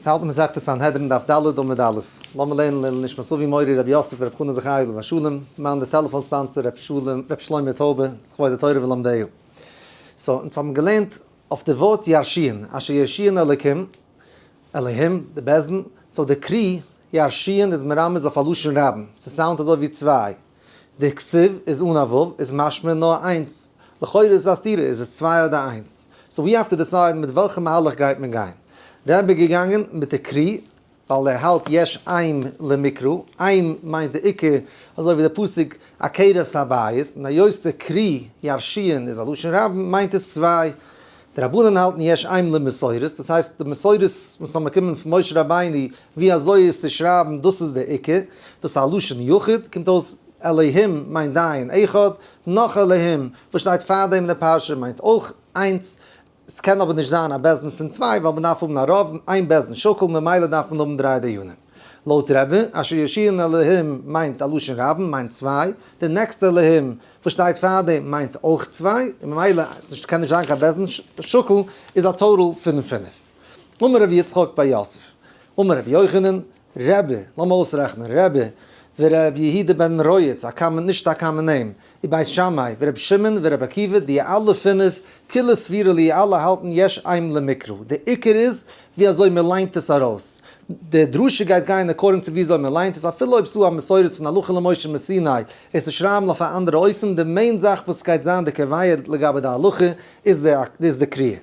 אונז האלטן מסכת סנהדרין דף ד עמוד א', לאמיר לערנען לעילוי נשמת אבי מורי רבי יוסף ר' חנא זכרי' עליו השלום, מיין די טעלעפאן ספאנסער ר' שלום, ר' שלמה טויבע, לכבוד די תורה ולומדיה. סאו, אונז האבן געלערנט אויף די ווארט ירשיען, אשר ירשיען אלוקים, אלהים, די בעסטן, סאו די קרי ירשיען איז מרמז אויף א לשון רבים, ס'סאונדט אזוי ווי צוויי. די כסוף איז אן א ו' איז משמע נאר איינס. לכאורה איז עס א סתירה, איז עס צוויי אדער איינס? סאו ווי האו טו דיסייד מיט וועלכע מהלך גייט מען גיין. ר' איז געגאנגען מיט די קרי ווייל ער האלט יש עם למקרא, עם מיינט די עיקר, אזוי ווי די פסוק עקרת הבית, און היות די קרי ירשיען איז א לשון רבים מיינט עס צוויי. די רבנן האלטן יש עם למסורת, דאס הייסט די מסורת וואס זענען געקומען פון משה רבינו ווי אזוי איז צו שרייבן דאס איז דער עיקר, דאס איז א לשון יחיד, קומט אויס אלהים מיינט דיין אחד, נאך אלהים וואס שטייט פארדעם אין די פרשה מיינט אויך איינס, ס'קען אבער נישט זיין א בית דין פון צוויי ווייל מ'דארף האבן א רב, איין בית דין שקול, ממילא דארף מען האבן דריי דיינים. לויט רע ב, אשר ישיען אלהים מיינט א לשון רבים מיינט צוויי, די נעקסטע אלהים וואס שטייט פארדעם מיינט אויך צוויי, ממילא ס'קען נישט זיין קיין בית דין שקול, איז א טאטאל פון פינף. אמר רבי יצחק בר יוסף, אמר רבי יוחנן, רבי, לאמיר אויסרעכענען, רבי, ורבי יהודה בן רויעץ, א קאמען, נישט א קאמען נעים, און בית שמאי, ורבי שמעון, ורבי עקיבא, דיע אלע פינף, כולו סבירה לי' אלע האלטן יש עם למקרא, די עיקר איז ווי אזוי מען ליינט עס ארויס, די דרשה גייט גיין עקארדינג צו ווי אזוי מען ליינט עס, אפילו אויב עס איז דא א מסורת פון הלכה למשה מסיני עס צו שרייבן אויף א אנדערע אופן, די מעין זאך וואס עס גייט זיין די קביעה לגבי די הלכה איז די קריאה.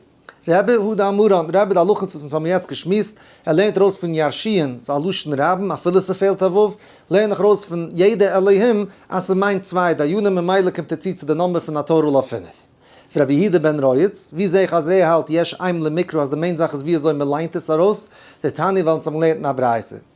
רבי יהודה עמרן, רבי די הלכות וואס אונז האבן יעצט געשמועסט, ער לערנט ארויס פון ירשי'ן, ס'איז א לשון רבים, אפילו ס'פעלט א ו', לערן איך ארויס פון ידע אלהים אז ס'מיינט צוויי דיינים ממילא קומט ער צו צו די נאמבער פון נאטורל אויף פֿינף. רבי יהודה בן רייץ, ווי זעה איך אז ער האלט יש עם למקרא אז די מעין זאך איז ווי אזוי מ'ליינט עס ארויס, די תניא וועלן עס האבן געלערנט אין א ברייתא.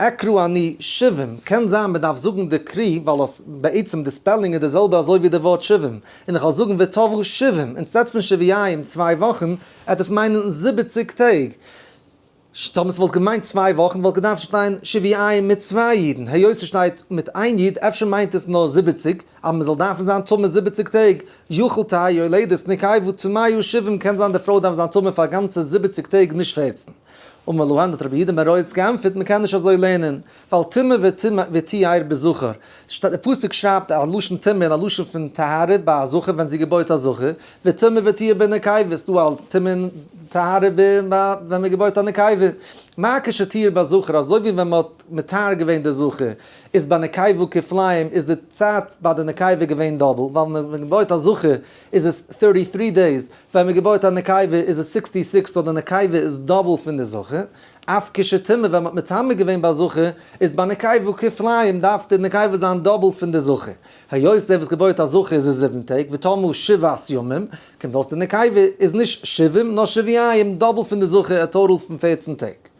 אקרא אני שבעים, קען זיין מען דארף זאגן די קרי ווייל אס בעצם די ספעלינג איז די זעלבע אזוי ווי די ווארט שבעים, און איך וועל זאגן ותבוא שבעים אינסטעד פון שביעים צוויי וואכן, עט עס מיינען זיבעציג טעג. ש טאמער ס'וואלט געמיינט צוויי וואכן וואלט געדארפט שטיין שביעים מיט צוויי אידן, היות ס'שטייט מיט איין איד אפשר מיינט עס נאר זיבעציג, אז מ'זאל דארפן זיין טמא זיבעציג טעג, יכול תהא יולדת נקייבו טמאיו שבעים קען זיין די פרוי דארף זיין טמא פאר גאנצע זיבעציג טעג נישט פערצן. אמר להן האט רבי יהודה מראיץ גענפערט מען קען נישט אזוי לערנען, ווייל טמא וטמא וטיהר בזכר, די פסוק שרייבט א לשון טמא און א לשון פון טהרה ביי א זכר ווען זי געבוירט א זכר, וטמא וטיהר בנקבה, ס'דא א טמא און טהרה ווען מען געבוירט א נקבה, מה כשטיהר בזכר, אזוי ווי ווען מען האט מטהר געווען די זכר, איז ביי נקבה כפליים, איז די צייט ביי די נקבה געווען דאבל, ווייל ווען מען געבוירט א זכר, איז עס טערטי טרי דעיס, ווען מען געבויעט א נקבה איז עס סיקסטי סיקס, סאו די נקבה איז דאבל פון די זכר, אויף כשתמר ווען מען האט מטמא געווען ביי זכר, איז ביי נקבה כפליים דארף די נקבה זיין דאבל פון די זכר, היות דער וואס געבויעט א זכר איז עס זיבן טעג, ותמו שבעת ימים, קומט אויס די נקבה איז נישט שבעים נאר שביעים, דאבל פון די זכר, א טאטאל פון פערצן טעג.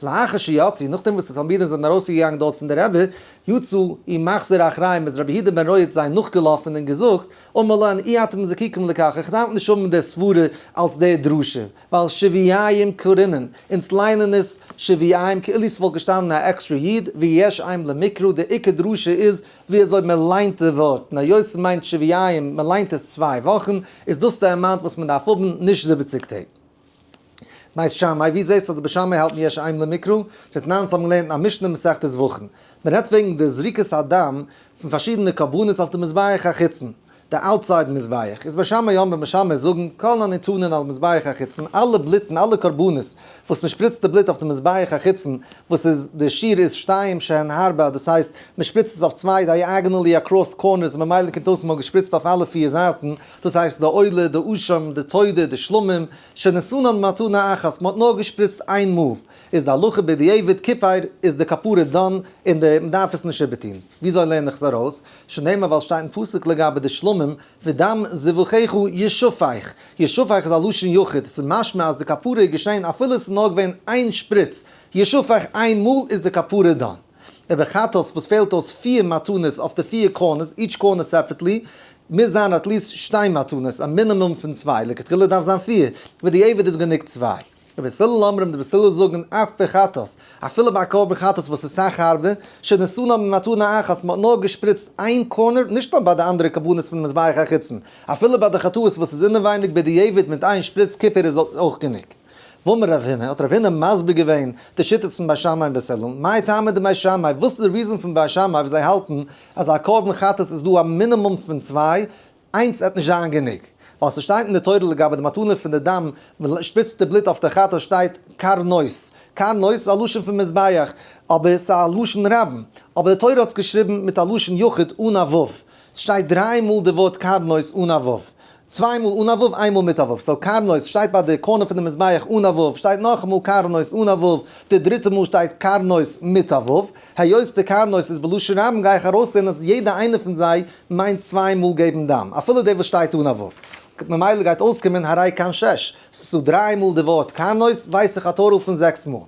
לאחר שיצא, נאכדעם וואס די תלמידים זענען ארויסגעגאנגען דארט פון די רבי, יצא אי מחזיר אחריהם איז רבי יהודה בן רויערץ זיי נאכגעלאפן און געזאגט, אמר לן אי אתם זקוקים לכך, איך דארף נישט האבן די סברה אלס דער דרשה, ווייל שביעיים קורינן, אונז ליינען עס שביעיים כאילו ס'וואלט געשטאנען א עקסטרע יוד, ויש עם למקרא, די עיקר דרשה איז ווי אזוי מען ליינט די ווארט, און היות ס'מיינט שביעיים, מען ליינט עס צוויי וואכן, איז דאס די אמאונט וואס מען דארף האבן, נישט זיבעציג טעג. בית שמאי, ווי זעסטו אז די בית שמאי האלטן יש עיין למקרא? דתנן זיי האבן געלערנט א משנה מסכת זבחים, מען רעדט וועגן די זריקת הדם פון פארשידענע קרבנות אויף די מזבח החיצון, די אוטסייד מזבח, איז בית שמאי אמר, בית שמאי זאגן, כל הניתנין על מזבח החיצון, אלע בלוטן, אלע קרבנות וואס מען שפריצט די בלוט אויף די מזבח החיצון, וואס איז די שיעור איז שתיים שהן ארבע, דאס הייסט מען שפריצט עס אויף צוויי דייאגענעלי אקראסט קארנערס, ממילא קומט אויס מען האט געשפריצט אויף אלע פיר זייטן, דאס הייסט די עולה, די אשם, די תודה, די שלמים, שנשאנן מתנה אחת, מען האט נאר געשפריצט איין מאל, איז די הלכה בדיעבד כיפער, איז די כפרה דאן, און די מען דארף עס נישט איבערטון. וויאזוי לערן איך עס ארויס? שנאמר ווייל שטייט אין פסוק לגבי די שלמים, ודם זבחיך ישפוך, ישפוך איז א לשון יחיד, עס איז משמע אז די כפרה איז געשען אפילו עס איז נאר געווען איין שפריץ, ישפוך איין מאל איז די כפרה דאן. און ווען חת ס וואס פעלט אויס פֿיר מתנות אויף די פֿיר קארנערס, איטש קארנער סעפערעטלי, מוז זיין עטליסט שטיי מתנות, א מינימום פון צוויי, לכתחילה דארף זיין פֿיר, ווי די עבד איז גענוג צוויי. רבי ס ל אמרים, די בית הלל זאגן אף ביי חת ס, אפילו ביי א קרבן חת ס וואס איז סאך הארבער, שנעשו נאר ממתנה אחת, מ'האט נאר געשפריצט איין קארנער, נישט נאר ביי די אנדערע קרבנות פון מזבח החיצון, אפילו ביי די חטאות וואס איז אינעווייניג בדיעבד מיט איין שפריץ כיפור איז אויך גענוג. ואמר רב הונא, האט רב הונא מסביר געווען די שיטות פון בית שמאי און בית הלל, מאי טעמא דבית שמאי, וואס איז די ריזאן פון בית שמאי וואס זיי האלטן אז א קרבן חטאת איז דא א מינימום פון צוויי, איינס וועט נישט זיין גענוג, ווייל ס'שטייט אין די תורה לגבי די מתנה פון די דם, מ'שפריצט די בלוט אויף די חטאת שטייט קרנות, קרנות איז א לשון פון מזבח, אבער ס'איז א לשון רבים, אבער די תורה האט עס געשריבן מיט א לשון יחיד אן א ו', ס'שטייט דריי מאל די ווארט קרנות אן א ו'. צוויי מאל אן א וו איין מאל מיט א וו, סאו קרנות שטייט ביי די קארנער פון די מזבח אן א וו, שטייט נאכאמאל קרנות אן א וו, די דריטע מאל שטייט קרנות מיט א וו, היות די קרנות איז בלשון רבים גיי איך ארויסלערנען אז יעדע איינע פון זיי מיינט צוויי מאל געבן דם, אפילו די וואס שטייט אן א וו, ממילא גייט אויסקומען הרי כאן שש, סאו ס'דא דריי מאל די ווארט קרנות ווייס איך א טאטאל פון זעקס מאל.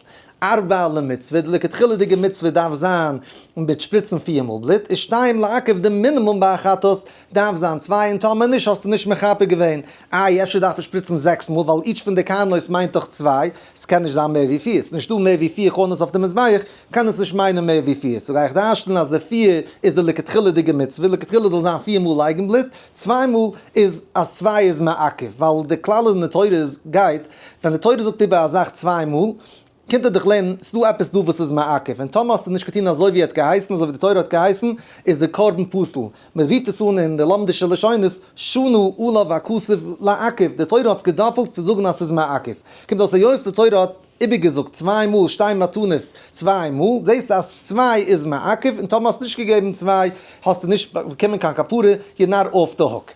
ארבע למצוה, די לכתחילה'דיגע מצוה דארף זיין מיט שפריצן פיר מאל בלוט, און שתיים לעכב די מינימום ביי א חטאת, דארף זיין צוויי און טאמער נישט האסטו נישט מחפה געווען. איי אפשר דארף ער שפריצן זעקס מאל ווייל איטש פון די קרנות מיינט דאך צוויי, ס'קען נישט זיין מער ווי פיר, ס'איז נישטא מער ווי פיר קרנות אויף די מזבח, קען עס נישט מיינען מער ווי פיר, סאו גיי איך דרש'נען אז די פיר איז די לכתחילה'דיגע מצוה, לכתחילה זאל זיין פיר מאל לייגן בלוט, צוויי מאל איז אז צוויי איז מעכב, ווייל די כלל אין די תורה איז גייט, ווען די תורה זאגט איבער א זאך צוויי מאל, קומט ער דיך לערנען, ס'איז דא עפעס דא וואס איז מעכב, און טאמער האסטו נישט געטון אזוי ווי ער האט געהייסן, אזוי ווי די תורה האט געהייסן, איז די קרבן פסול. מען רופט עס אן אין די לומדישע לשונות, שנו עליו הכסף לעכב, די תורה האט עס געדאפלט צו זאגן אז ס'איז מעכב. קומט אויס היות די תורה האט איבערגעזאגט צוויי מאל שתי מתנות צוויי מאל, זעסטו אז צוויי איז מעכב, און טאמער האסטו נישט געגעבן צוויי, האסטו נישט באקומען קיין כפרה, יו נאר אף די הוק.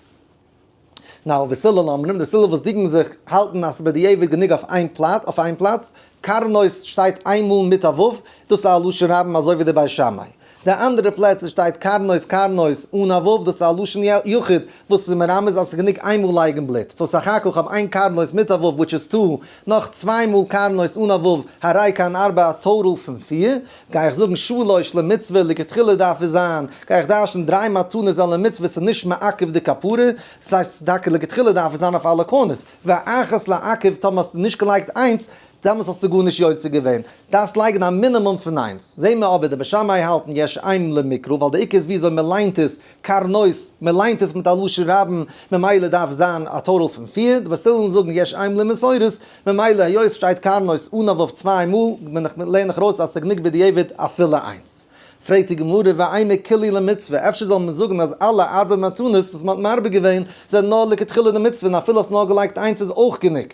נאו וסלע לאמרים, די סלע וואס דינגן זיך האלטן אז ס'בדיעבד גענוג אויף איין פלאץ, אויף איין פלאץ, קרנות שטייט איין מאל מיט א ו', דאס איז א לשון רבים אזוי ווי די בית שמאי. די אנדערע פלעצער שטייט קרנות קרנות אן א ו', דאס איז א לשון יחיד וואס איז מרמז אז ס'איז גענוג איין מאל לייגן בלוט. סאו סך הכל כ'האב איין קרנות מיט א ו' וויטש איז טו, נאך צוויי מאל קרנות אן א ו', הרי כאן ארבעה טאטאל פון פיר, גיי איך זאגן שלש למצוה לכתחילה דארף עס זיין, גיי איך דרש'ן דריי מתנות זיין למצוה וואס איז נישט מעכב די כפרה, דאס הייסט טאקע לכתחילה דארף עס זיין אויף אלע קרנות, ואחת לעכב טאמער האסטו נישט געלייגט איינס, דעמאלס האסטו גארנישט יוצא געווען, דארפסט לייגן א מינימום פון איינס, זעהן מיר אבער די בית שמאי האלטן יש עיין למקרא ווייל די עיקר איז וויאזוי מען ליינט עס, קרנות, מען ליינט עס מיט א לשון רבים, ממילא דארף זיין א טאטאל פון פיר, די וואס ווילן זאגן יש עיין למסורת ממילא היות סשטייט קרנות אן אא וו צוויי מאל בין איך לערן איך ארויס אז סגענוג בדיעבד אפילו איינס. פרעגט די גמרא ואינו כולי למצוה אפשר זאל מען זאגן אז אלע ארבע מתנות וואס מען האט מרבה געווען זענען נאר לכתחילה די מצוה און אפילו האסט נאר געלייגט איינס איז אויך גענוג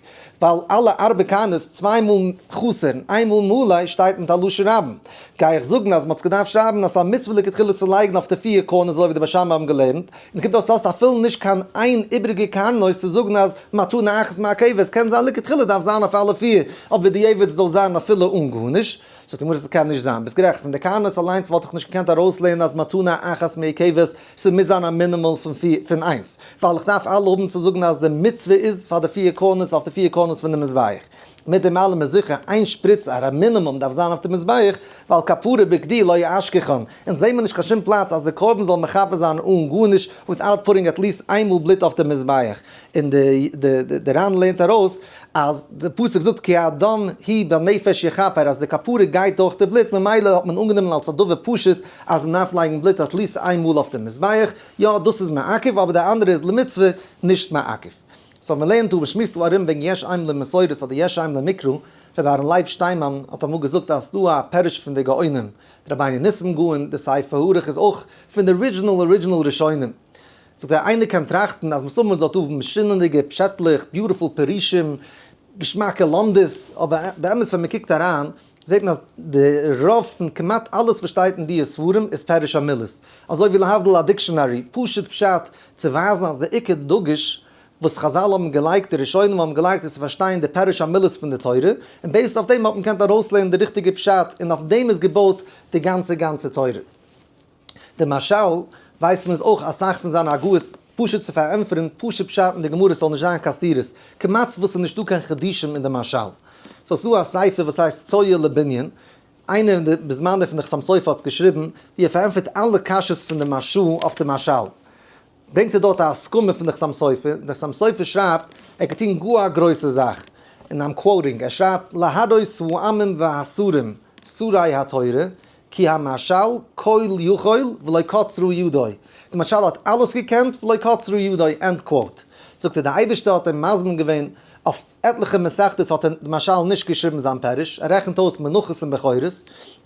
ווייל אלע ארבע קרנות צוויי מאל חסר און איין מאל מלא שטייט מיט א לשון רבים גיי איך זאגן אז מען האט געדארפט שרייבן אז ס'איז א מצוה לכתחילה צו לייגן אויף די פיר קרנות אזוי ווי די בית שמאי האבן געלערנט נקודה דאס לאזט אפילו נישט קיין איין איבריגע קארנער צו זאגן אז מתנה אחת מעכבת, קען זיין לכתחילה דארף זיין אויף אלע פיר, אבער בדיעבד זאל זיין אפילו אן גארנישט, זאגט די גמרא ס'קען נישט זיין, ביסט גערעכט, פון די קארנערס אליינס וואלט איך נישט געקענט ארויסלערנען אז מתנה אחת מעכבת, ס'מוז זיין א מינימום פון פיר פון איינס, ווייל איך דארף אלע האבן צו זאגן אז די מצוה איז פאר די פיר קארנערס אויף די פיר קארנערס פון די מזבח. מיט דעם אלעם איז זיכער איין שפריץ א ר מינימום דארף זיין אויף די מזבח, ווייל כפרה בגדי לא יאשכחון, אונז זעמער נישט קיין שום פלאץ אז די קרבן זאל מכפר זיין אן גארנישט וויטאוט פוטינג עט ליעסט איין מאל בלוט אויף די מזבח, און די די די רן לערנט ארויס אז די פסוק זאגט כי האדם היא בנפש יכפר אז די כפרה גייט דורך די בלוט ממילא האט מען אנגענומען אלס א דבר פשוט אז מען דארף לייגן בלוט עט ליעסט איין מאל אויף די מזבח, יא דאס איז מעכב אבער די אנדערע איז למצוה נישט מעכב. סאו מ'לערנט אויב שמועסט דא ארום וועגן יש עם למסורת אדער יש עם למקרא, רבי אהרן לייב שטיינמאן האט אמאל געזאגט אז ס'דא א פירוש פון די גאונים, רבינו ניסים גאון, די ספר הארוך איז אויך פון די ארידזשינעל ארידזשינעל ראשונים. זאגט ער איינער קען טראכטן אז מסמר זאל האבן משונה'דיגע פשעטלעך, ביוטיפול פירושים, געשמאקע לומדות, אבער באמת ווען מ'קוקט אריין, זעט מען אז די רוב פון כמעט אלעס וואס שטייט אין דיע ספרים איז פירוש המילות, אזוי ווי להבדיל א דיקשאנערי, פשוט פשט, צו ווייזן אז די עיקר דגוש וואס חזל האבן געלייגט, די ראשונים האבן געלייגט, איז צו פארשטיין די פירוש המילות פון די תורה, און בעיסד אויף דעם האט מען געקענט ארויסלערנען די ריכטיגע פשט, און אויף דעם איז געבויט די גאנצע גאנצע תורה. די משל ווייסט מען איז אויך אסאך פון זיינע הגהות פשוט צו פארענטפערן פשוט פשט אין די גמרא ס'זאל נישט זיין קיין סתירות כמעט וואס ס'נישט דא קיין חידושים אין די משל סאו ס'דא א ספר וואס הייסט צואה לבנין איינער אין די בזמנו פון די חתם סופר האט עס געשריבן ווי ער פארענטפערט אלע קשיות פון די משל אויף די משל ברענגט ער דארט א הסכמה פון די חתם סופר די חתם סופר שרייבט ער קען טון גאר א גרויסע זאך און איים קוואוטינג ער שרייבט להדות העמים והסורים סורי התורה כי המשל כל יכול ולא קצרו ידו, די משל האט אלעס געקענט ולא קצרו ידו, ענד קוואוט. זאגט ער די אייבערשטער האט אים מזמין געווען אויף עטליכע מסכתות האט ער די משל נישט געשריבן זיין פירוש, ער רעכנט אויס מנחות און בכורות,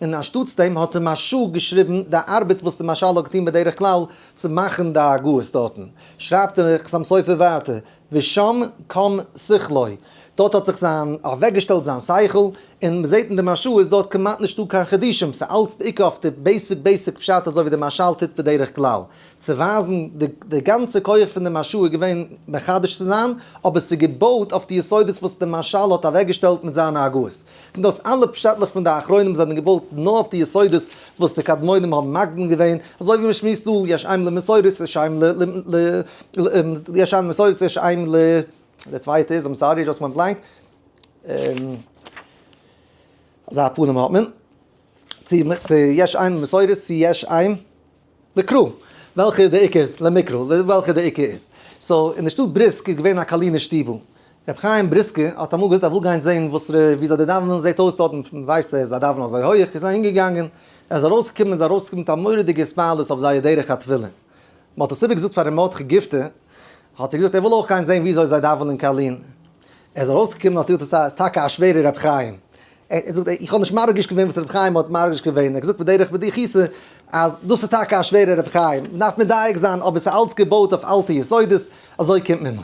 און אנשטאטס דעם האט ער משא כ געשריבן די ארבעט וואס די משל האט געטון בדרך כלל צו מאכן די הגהות דארטן, שרייבט דער חתם סופר ווייטער, ושם קם שכלו, דארט האט זיך זיין אוועקגעשטעלט זיין שכל, און מען זעט אין די משל איז דארט כמעט נישטא קיין חידושים, ס'איז אלץ בעיקר אויף די בעיסיק בעיסיק פשט אזוי ווי די משל טוט בדרך כלל צו ווייזן, די די גאנצע כח פון די משל איז געווען מחדש צו זיין, אבער ס'איז געבויט אויף די יסודות וואס די משל האט אוועקגעשטעלט מיט זיינע הגהות. און דאס אלע פשעטלעך פון די אחרונים זענען געבויט נאר אויף די יסודות וואס די קדמונים האבן מקדים געווען, אזוי ווי מען שמועסט דא, יש עם למסור את יש עם ל ל יש עם למסור את יש עם ל די צווייטע איז, איים סארי, דזשאסט ווענט בלענק, אזא פנים האט מען, צו יש עם למסור את צו יש עם. לקרא, וועלכע די עיקר איז, למקרא, וועלכע די עיקר איז. סאו, אין די שטאט בריסק איז געווען א קאלינער שטיבל. רבי חיים בריסקער האט אמאל געזאגט ער וויל גיין זעהן וואס ר' וויאזוי די דאווענען זעהט אויס דארטן, ווייסט ער זיי דאווענען אזוי הויעך, איז אהינגעגאנגען, ער איז ארויסגעקומען איז ארויסגעקומען מיט א מורא'דיגע התפעלות אויף זייער דרך התפילה. מען האט עס איבער געזאגט פאר ר' מרדכי גיפטער, האט ער געזאגט ער וויל אויך גיין זעהן וויאזוי זיי דאווענען קאלין, ער איז ארויסגעקומען האט ער געזאגט עס איז טאקע א שווערע רבי חיים, ער זאגט איך האב נישט מרגיש געווען וואס רבי חיים האט מרגיש געווען, ער האט געזאגט בדרך בדיחותא אז דאס איז טאקע א שווערע רבי חיים, מען דארף מדייק זיין אבער עס איז אלץ געבויט אויף אלטע יסודות, אזוי קומט מען אן.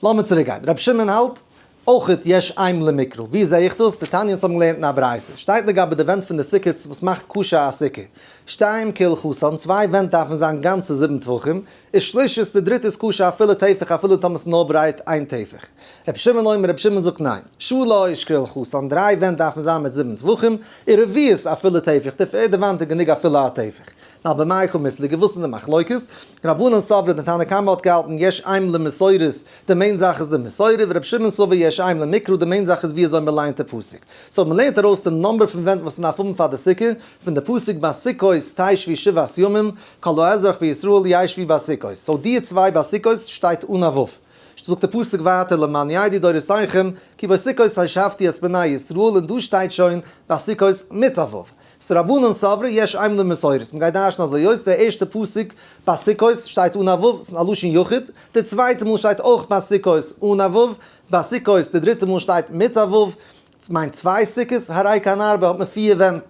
לאמיר צוריק גיין, רבי שמעון האלט אויכעט יש עם למקרא, ווי זעה איך דאס? די תניא'ס האבן געלערנט אין א ברייתא, שטייט לגבי די ווענט פון די סוכות וואס מאכט קשה א סוכה, שתיים כעל חסון, צוויי ווענט דארפן זיין גאנצע זיבן טפחים, איז שלישית די דריטע איז כשר אפילו טפח אפילו טאמער ס'איז נאר ברייט איין טפח. רבי שמעון אומר רבי שמעון זאגט ניין. שו ל איז שקרא לחסרון דריי ווענט דארפן זיין מיט זיבן טפחים, און רביעית אפילו טפח די פערדע וואנט איז גענוג אפילו א טפח. נא במאי קא מפליגה וואס איז די מחלוקת? רבנן סברה די תנא קמא האט געהאלטן יש עם למסורת די מעין זאך איז די מסורה ורבי שמעון סובר יש עם למקרא די מעין זאך איז ווי אזוי מ'ליינט די פסוק. סאו מ'לערנט ארויס די נומבער פון ווענט וואס מ'דארף האבן פאר די סוכה פון די פסוק ביי סוכות תשבי שבעת ימים כל האזרח בישראל ישבי בסוכות, סאו דיע צוויי ביי סוכות שטייט אן א ו', זאגט די פסוק ווייטער למען ידעו דורותיכם כי בסוכות הושבתי את בני ישראל און דא שטייט שוין ביי סוכות מיט א ו', סאו רבנן סברא יש עימם די מסורת, מען גייט דרשן אזוי אויס, די ערשטע פסוק ביי סוכות שטייט אן א ו', ס'איז א לשון יחיד, די צווייטע מאל שטייט אויך ביי סוכות אן א ו', ביי סוכות די דריטע מאל שטייט מיט א ו', מיין צוויי סוכות הרי קיין ארבע האט מען פיר ווענט,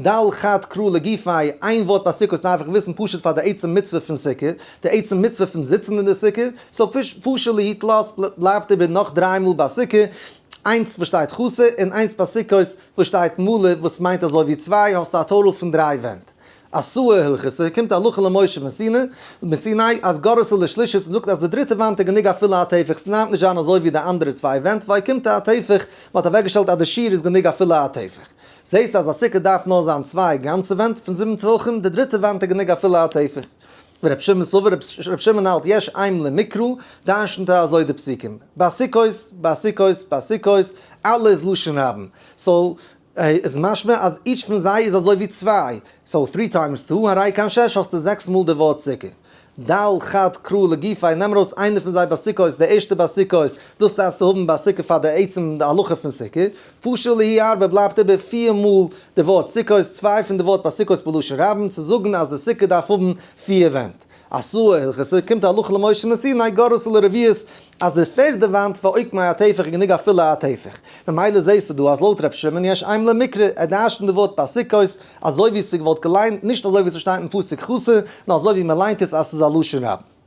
ד' חד קרא לגופי, איין ווארט ביי סוכות דארף איך וויסן פשוט פאר די עצם מצוה פון סוכה, די עצם מצוה פון זיצן אין די סוכה, סאו פשרא להתלאות בלייבט איבער נאך דריי מאל ביי סוכה, איינס וואס שטייט חסר, און איינס ביי סוכות וואס שטייט מלא וואס מיינט אזוי ווי צוויי האסטו א טאטאל פון דריי ווענט. אסור הלכות, ס'איז געקומט הלכה למשה מסיני אז גרסא לשלישית זאגט אז די דריטע וואנט איז גענוג אפילו א טפח, ס'נעמט נישט זיין אזוי ווי די אנדערע צוויי ווענט, וויי קומט א טפח, מ'האט אוועקגעשטעלט אז די שיעור איז גענוג אפילו א טפח. זעהסט אז א סוכה דארף נאר זיין צוויי גאנצע ווענט פון זיבן טפחים, די דריטע וואנט איז גענוג אפילו א טפח. ורב שמעון סובר, רב שמעון האלט יש עם למקרא, דרש'נט ער אזוי די פסוקים, ביי סוכות, ביי סוכות, ביי סוכות, אלע איז לשון רבים, סאו. איז משמע אז איטש פון זיי איז אזוי ווי צוויי, סאו טרי טיימס טו הרי קיין שש האסטו זעקס מאל די ווארט סוכה. ד חד קרא לגופי נעם ארויס איינער פון זיי ביי סוכות די ערשטע ביי סוכות דאס דארפסטו האבן ביי סוכה פאר די עצם הלכה פון סוכה, פשו להי ארבע בלייבט איבער פיר מאל די ווארט סוכות צוויי פון די ווארט ביי סוכות בלשון רבים צו זאגן אז די סוכה דארף האבן פיר ווענט. אסור הלכות סוכה קומט הלכה למשה מסיני גרוס על ערביות אז די פערדע וואנט פאר עוקמי הטפח איז גענוג א פולע הטפח ממילא זעהסטו דא אז לויט ר' שמעון יש עיין למקרא ער דרשנט די ווארט פסוקות אזוי ווי ס'געוואלט געליינט נישט אזוי ווי ס'שטייט אין פסוק כסא נאר אזוי ווי מ'ליינט עס אז ס'איז א לשון רבים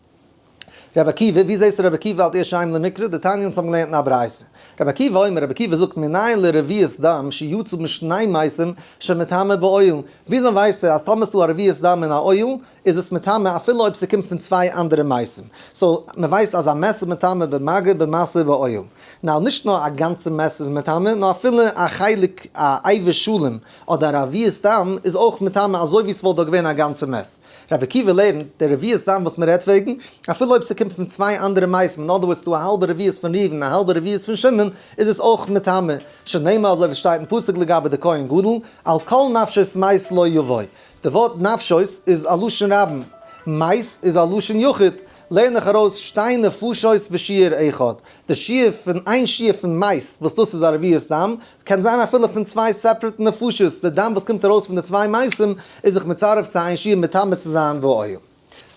רבי עקיבא ווי זעהסטו רבי עקיבא האלט יש עיין למקרא די תניא אונז האבן געלערנט אין א ברייתא רבי עקיבא אומר רבי עקיבא זאגט מנין לרביעית דם שיצא משני מעשים שמטמא באוהל וויאזוי ווייסטו אז טאמער ס'איז דא א רביעית דם אין א אוהל איז עס מטמא אפילו אויב ס'קומט פון צוויי אנדערע מייסים. סאו, מ'ווייסט אז א מעס איז מטמא במגע, במעשה ובעול. נאו, נישט נאר א גאנצע מעס איז מטמא, נאר אפילו א חלק, א איבר שלם, אדער א רביעית דם, איז אויך מטמא אזוי ווי ס'וואלט דארט געווען א גאנצע מעס. רבי עקיבא לערנט, די רביעית דם וואס מ'רעדט וועגן, אפילו אויב ס'קומט פון צוויי אנדערע מייסים, אין אדער ווארדס דא א האלבע רביעית פון ראובן און א האלבע רביעית פון שמעון, איז עס אויך מטמא, שנאמר אזוי ווי ס'שטייט אין פסוק לגבי די כהן גדול, על כל נפשות מייס לא יבוא. די ווארט נפשות איז א לשון רבים, מייז איז א לשון יחיד, לערן איך ארויס שתי נפשות ושיעור אחד, די שיעור פון איין שיעור פון מייז וואס דאס איז א רביעית דם, קען זיין אפילו פון צוויי סעפרעט נפשות, די דם וואס קומט ארויס פון די צוויי מייזים איז זיך מצרף צו איין שיעור מטמא צו זיין ועיון.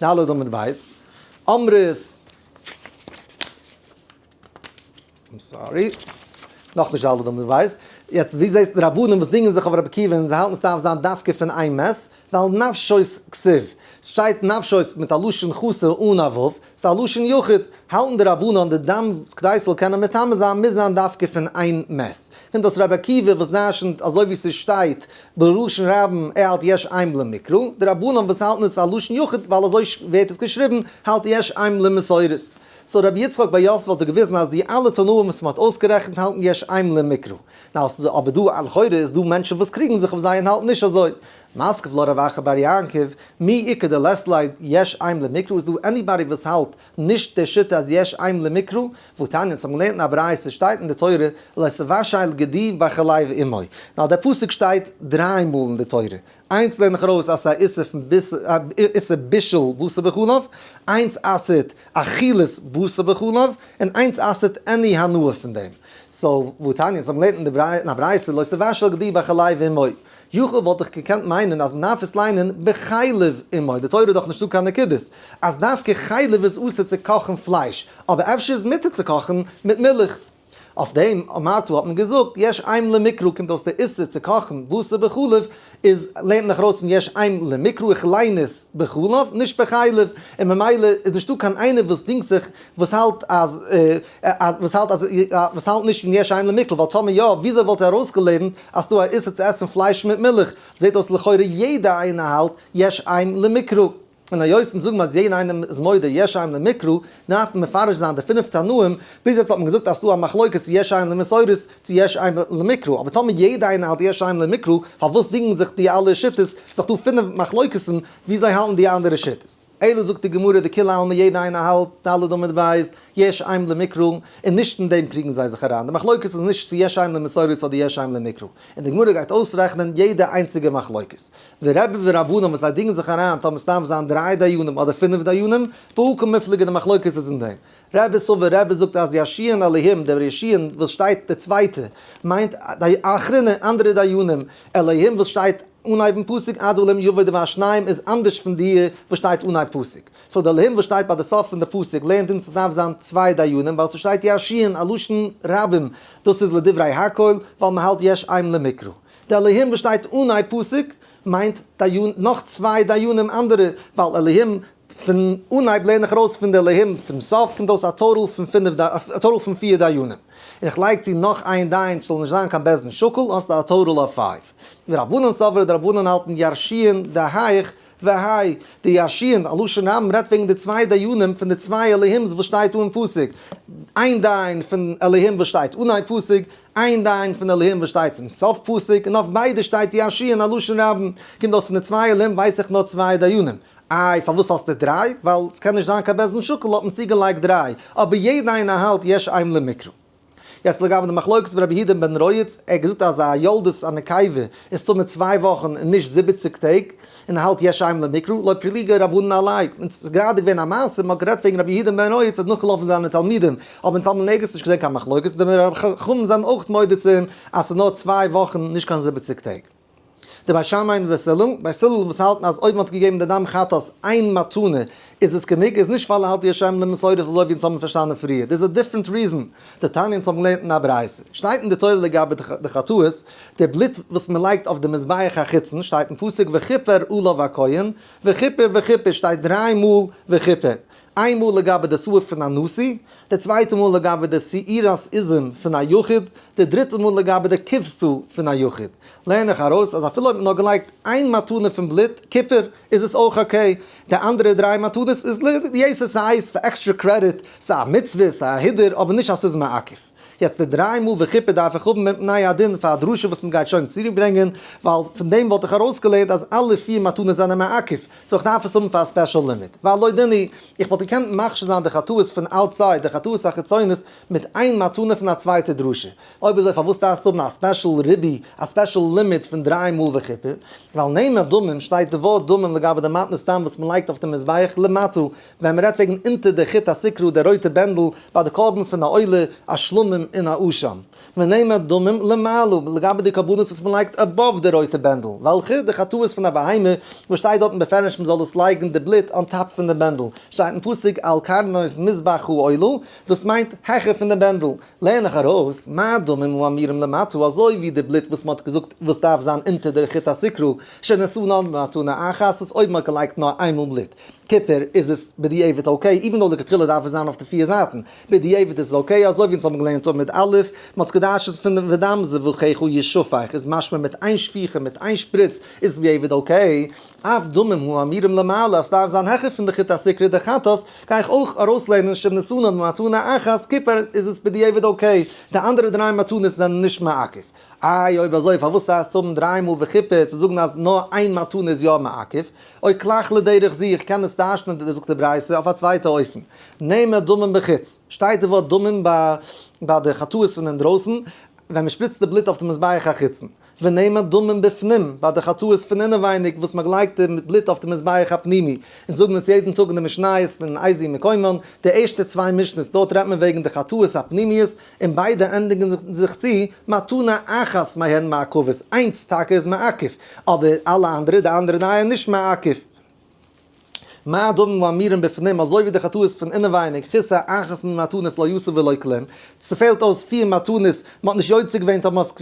ד עמוד ב'. אמרות. איים סארי. נאך נישט אלע דומם ווייס. יעצט ווי זעהסטו די רבנים וואס דינגען זיך אויף רבי עקיבא און זיי האלטן סדארף זיין דווקא פון איין מעש ווייל נפשות כסיב סשטייט נפשות מיט א לשון חסר אן א ו' סא לשון יחיד האלטן די רבנים אז די דם וואס כדי סזאל קענען מטמא זיין מוז זיין דווקא פון איין מעש און דאס רבי עקיבא וואס דרשנט אזוי ווי סשטייט בלשון רבים ער האלט יש עם למקרא די רבנים וואס האלטן עס א לשון יחיד ווייל אזוי ווערט עס געשריבן האלט יש עם למסורת סאו רבי יצחק בר יוסף האט דא געוויזן אז די אלע תנאים וואס מען האט אויסגערעכנט האלטן יש עיין למקרא. נאו עס איז אבער דא א לכאורה איז דא מענטשן וואס קריגן זיך אויף זיי און האלטן נישט אזוי. משכב לא רב אחר בר יעקב, מי איכא דלעסט לייד יש עיין למקרא איז דא עניבאדי וואס האלט נישט די שיטה אז יש עיין למקרא? וואו תניא אונז האבן געלערנט אין א ברייתא עס שטייט אין די תורה לסבא שייל גדי ואכליו עמו נאו דער פסוק שטייט דריי מאל אין די תורה איינס לערן איך ארויס אז ס'איז א איסור פון ביס א איסור בישול בשר בחלב, איינס אסר'ט אכילת בשר בחלב, און איינס אסר'ט עני הנאה פון דעם. סאו וואו תניא? אונז האבן געלערנט אין א ברייתא לא תבשל גדי בחלב אמי. יכול וואלט איך געקענט מיינען אז מ'דארף עס ליינען בחלב אמי, די תורה איז דאך נישטא קיין נקודות, אז דווקא חלב איז אסור צו קאכן פלייש, אבער אפשר איז מותר צו קאכן מיט מילך. אויף דעם מאטו האט מען געזאגט יש עם למקרא קומט אויס דער איסור צו קאכן בשר בחלב איז לערנט נאך ארויס פון יש עם למקרא איך ליין עס בחלב נישט בחלב און ממילא איז נישטא קיין איינער וואס דינגט זיך וואס האלט אז וואס האלט אז וואס האלט נישט פון יש עם למקרא ווייל טאמער יא וויאזוי וואלט ער ארויסגעלערנט אז ס'דא א איסור צו עסן פלייש מיט מילך זעהט אויס לכאורה יעדע איינער האלט יש עם למקרא. און היות אונז זאגן אז יעדע איינעם איז מודה יש עיין למקרא, דארף מען מפרש זיין די פינף תנאים, ביז יעצט האט מען געזאגט אז ס'דא א מחלוקת צו יש עיין למסורת צו יש עיין למקרא, אבער טאמער יעדע איינער האלט יש עיין למקרא, פארוואס דינגן זיך די אלע שיטות, ס'איז דאך דא פינף מחלוקת'ן ווי זיי האלטן די אנדערע שיטות. אלא זאגט די גמרא דכולי עלמא יעדע איינער האלט, ד' אמד ב', יש עיין למקרא, און נישט אין דעם קריגן זיי זיך אריין, די מחלוקת איז נישט צו יש עיין למסורת אדער יש עיין למקרא, און די גמרא גייט אויסרעכענען יעדע איינציגע מחלוקת, די רבי ורבנן וואס זיי דינגען זיך אריין טאר מען סתם זיין דריי דיינים אדער פינף דיינים, והוא כמפלגה די מחלוקת איז אין דעם. רבי סובר רבי זאגט אז ישיען אלהים דער ישיען וואס שטייט די צווייטע מיינט די אחרונה אנדערע דיינים אלהים וואס שטייט אנהייבן פסוק עד עולם יבוא די והשניים איז אנדערש פון דיע וואס שטייט אנהייב פסוק סאו די אלהים וואס שטייט ביי די סוף פון די פסוק לערנט אונז סדארף זיין צוויי דיינים ווייל סשטייט ישיען א לשון רבים דאס איז לדברי הקהל ווייל מהאלט יש עם למקרא די אלהים וואס שטייט אן איי פסוק מיינט דיין נאך צוויי דיינים אנדערע ווייל אלהים פון אנהייב לערן איך ארויס פון די אלהים צום סוף קומט אויס א טאטאל פון פינף א טאטאל פון פיר דיינים און איך לייג צו נאך איין דיין ס'זאל נישט זיין קיין בית דין שקול האסטו א טאטאל אויף פייוו ורבנן סבר די רבנן האלטן ירשיען די הייך והאי די ירשיען א לשון רבים רעדט וועגן די צוויי דיינים פון די צוויי אלהים'ס וואס שטייט אן פסוק איין דיין פון אלהים וואס שטייט אן איי פסוק איין דיין פון די לוהים וואס שטייט צום סוף פסוק, און אויף ביידע שטייט ישי אין א לשון רבים, קומט אויס פון די צוויי לוהים ווייס איך נאר צוויי דיינים. איי פארוואס האסטו דריי? ווייל ס'קען נישט זיין קיין בעסטן שקל האט מען צוגעלייגט דריי, אבער יעדע איינער האלט יש עיהם למקרא. יעצט לגבי די מחלוקת פון רבי יהודה בן רייץ, ער האט געזאגט אז א יולדת א נקבה איז טמא צוויי וואכן און נישט זיבעציג טעג, און האלט יש עים למקרא, לויט פריליגע רבנן אליין, און ס'איז גראדע געווען א מעשה, מ'האט גערעדט וועגן רבי יהודה בן רוי, ס'האט נאכגעלאפן זיינע תלמידים, אבער אונז האמיר נערגיץ נישט געזען קיין מחלוקת, און די רבי חכמים זענען אויך מודה צו אים אז ס'איז נאר צוויי וואכן, נישט קיין זיבעציג טעג. די בית שמאי און די בית הלל, בית הלל וואס האלטן אז אויב מ'האט געגעבן די דם חטאת איין מתנה איז עס גענוג, איז נישט פאלן האלט יש עים למסורת אזוי ווי אונז האבן פארשטאנען פריער, דאס איז א דיפרענט ריזען, די תניא אונז האבן געלערנט אין א ברייתא, שטייט אין די תורה לגבי די חטאות, די בלוט וואס מען לייגט אויף די מזבח החיצון שטייט אין פסוק וכפר עליו הכהן, וכפר וכפר שטייט דריי מאל וכפר, איין מאל לגבי די שעורה פון א נשיא, די צווייטע מאל לגבי די שעירת איזים פון א יחיד, די דריטע מאל לגבי די כבשה פון א יחיד. לערן איך ארויס אז אפילו אויב מען האט געלייגט איין מתנה פון בלוט, כפר, איז עס אויך אקעי, די אנדערע דריי מתנות איז ליתר שאת פאר עקסטרע קרעדיט, ס'איז א מצוה, ס'איז א הידור, אבער נישט אז ס'איז מעכב. יעצט די דריי מאל וכיפור דארף איך האבן מפני הדין פאר א דרשה וואס מען גייט שוין צוריק ברענגען, ווייל פון דעם וואלט איך ארויסגעלערנט אז אלע פיר מתנות זענען מעכב, סאו איך דארף עס האבן פאר א ספעשל לימוד. ועל לא דיני, איך וואלט געקענט מכשיר זיין די חטאות פון אוטסייד, די חטאות החיצונית, מיט איין מתנה פון א צווייטע דרשה. אויב אזוי פארוואס דארפסטו האבן א ספעשל רבי, א ספעשל לימוד פון דריי מאל וכיפור? ועל נעימה דמים, שטייט די ווארט דמים לגבי די מתנות סתם וואס מען לייגט אויף די מזבח למטה, ווען מ'רעדט וועגן אונטער די חוט השקרה די רויטע בענדל ביי די קרבן פון א עולה, א שלמים און א אשם. ונעימה דמים למעלה, לגבי די קרבנות וואס מ'לייגט עבאוו די רויטע בענדל, וועלכע? די חטאות פון א בהמה, וואס שטייט דארטן בפירוש מ'זאל עס לייגן די בלוט אן טאפ פון די בענדל, שטייט אין פסוק על קרנות מזבחו עולה, דאס מיינט העכער פון די בענדל. לערן איך ארויס, מה הדמים הוא אמירם למטה, אזוי ווי די בלוט וואס מ'האט געזאגט וואס דארף זיין אונטער דער חוט השקרה, שנשא נאר במתנה אחת, וואס אויבן האט געלייגט נאר איינמאל בלוט, טיפער איז עס בדיעבד אקעי, איווען דאו לכתחילה דארף עס זיין אויף די פיר זייטן, בדיעבד איז עס אקעי, אזוי ווי אונז האבן געלערנט אויבן מיט א', מען האט עס געדרש'נט פון דעם ודם זבחיך ישפך איז משמע מיט איין שפיכה, מיט איין שפריץ, איז עס בדיעבד אקעי, אף דמים האמירים למעלה אז ס'דארף זיין העכער פון די חוט השקרי דחטאת, גיי איך אויך ארויסלערנען שמנסינא במתנה אחת כיפור איז עס בדיעבד אקעי, די אנדערע דריי מתנות זענען נישט מעכב. איי אויב אזוי פארוואס הייסט האבן דריי מאל וכיפור צו זאגן אז נאר איין מתנה איז יא מעכב? אוי קלאך לדרך זי איך קען עס טיישן די דערזאגטע ברייתא אויף א צווייטע אופן. נעמה דמים בחוץ, שטייט די ווארט דמים ביי די חטאות פון אינדרויסן ווען מען שפריצט די בלוט אויף די מזבח החיצון, ונעמה דמים בפנים ביי די חטאות פון אינעווייניג וואס מען לייגט די בלוט אויף די מזבח הפנימי, אונז זאגן עס יעדן טאג אין די משניות פון אייזי מקומון, די ערשטע צוויי משניות דארט רעדט מען וועגן די חטאות הפנימיות, און ביידע ענדיגן זיך צו מתנה אחת מהן מעכבת, איינס טאקע איז מעכב, אבער אלע אנדערע, די אנדערע נייע, נישט מעכב. מה הדברים האמרים בפנים, אזוי ווי די חטאות פון אינעווייניג, כיסא אחת מן מתנות לא יוסיף ולא כלום, ס'פעלט אויס פיר מתנות, מ'האט נישט יוצא געווען, טאמער האסט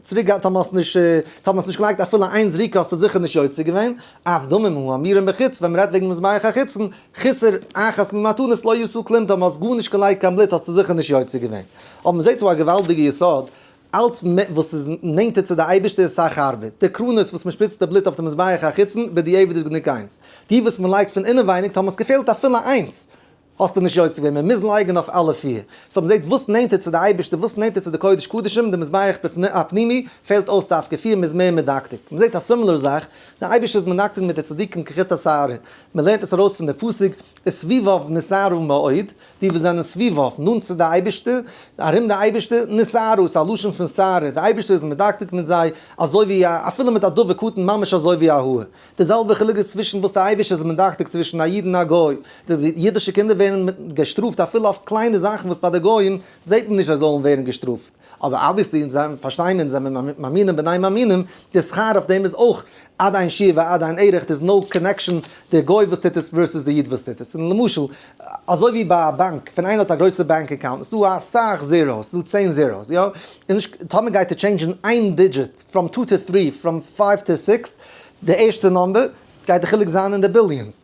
צוריק געהאט, טאמער האסט נישט, טאמער האסט נישט געלייגט אפילו איין זריקה האסטו זיכער נישט יוצא געווען, אף דמים האמרים בחוץ, ווען מ'רעדט וועגן מזבח החיצון, חיסר אחת ממתנות לא ישאו כלום טוב, האסט גארנישט געלייגט קיין בלוט האסטו זיכער נישט יוצא געווען. אבער מען זעט דא א געוואלדיגע יסוד, אלץ מער וואס איז נענטער צו די אייבערשטער איז סאך הארבער. די קרנות וואס מען שפריצט די בלוט אויף די מזבח החיצון, בדיעבד איז גענוג איינס. די וואס מען לייגט פון אינעווייניג טאמער עס געפעלט אפילו איינס, האסטו נישט יוצא געווען, מען מוז לייגן אויף אלע פיר. סאו מען זעט וואס נענטער צו די אייבערשטער, וואס נענטער צו די קודש קדשים, די מזבח הפנימי, פעלט אויס דווקא פיר, מען איז מער מדקדק. מען זעט א סימילער זאך, דער אייבערשטער איז מנקד מיט די צדיקים כחוט השערה, מען לערנט עס ארויס פון די פסוק וסביבו נסערו מאוד, די וואס זענען סביבו, נאנט צו די אייבערשטער, ארום די אייבערשטער, נסערו איז א לשון פון סערה, די אייבערשטער איז מדקדק מיט זיי, אזוי ווי א, אפילו מיט א דבר קטן, ממש אזוי ווי א האר. די זעלבע חילוק איז צווישן וואס די אייבערשטער איז מדקדק צווישן א איד און א גוי, די אידישע קינדער ווערן געשטראפט אפילו אויף קליינע זאכן וואס ביי די גוים זעט מען נישט זיי זאלן ווערן געשטראפט, אבער אבוויעסלי פארשטייען אונז אז מיר מאמינים בני מאמינים, די שכר אויף דעם איז אויך עד אין שיעור ועד אין ערך, דער איז נאו קאנעקשאן די גוי וואס טוט עס ווערסעס די איד וואס טוט עס, און למשל אזוי ווי ביי א באנק ווען איינער האט א גרויסע באנק אקאונט איז דא אסאך זיראוס, איז דא צען זיראוס יא, איז נישט טאמער גייט ער טשעינדשען איין דידזשיט פראם טו טו טרי פראם פייוו טו סיקס די ערשטע נאמבער גייט די חילוק זיין אין די ביליאנס,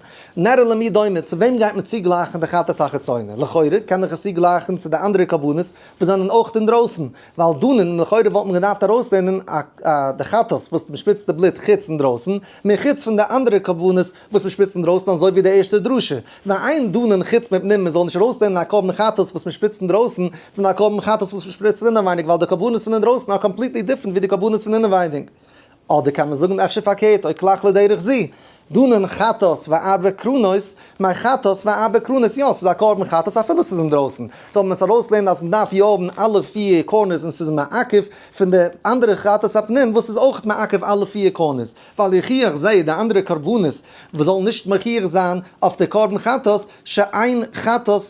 נר למי דומה, צו וועם גייט מען צוגלייכן די חטאת החיצונה? לכאורה קען איך עס צוגלייכן צו די אנדערע קרבנות וואס זענען אויך אינדרויסן, ווייל דאן לכאורה וואלט מען געדארפט ארויסלערנען די חטאת וואס מען שפריצט די בלוט חוץ אינדרויסן, מער חוץ פון די אנדערע קרבנות וואס מען שפריצט אינדרויסן אזוי ווי די ערשטע דרשה, ועיין דנן חוץ מפנים מען זאל נישט ארויסלערנען א קרבן חטאת וואס מען שפריצט אינדרויסן פון א קרבן חטאת וואס מען שפריצט אינעווייניג ווייל די קרבנות פון אינדרויסן אר קאמפליטלי דיפרענט ווי די קרבנות פון אינעווייניג. אדער קען מען זאגן אפשר פארקערט, אוי קלאך לדרך זי, דנן חטאת וארבע קרונות, מיין חטאת וארבע קרונות, יא ס'איז א קרבן חטאת אפילו ס'איז אינדרויסן, סאו ווען מ'עס ארויסלערנט אז מ'דארף יא האבן אלע פיר קארנערס און ס'איז מעכב פון די אנדערע חטאת הפנים וואס איז אויך מעכב אלע פיר קארנערס, ווייל יוכיח זיי די אנדערע קרבנות וואס זאלן נישט מוכיח זיין אויף די קרבן חטאת, שאין חטאת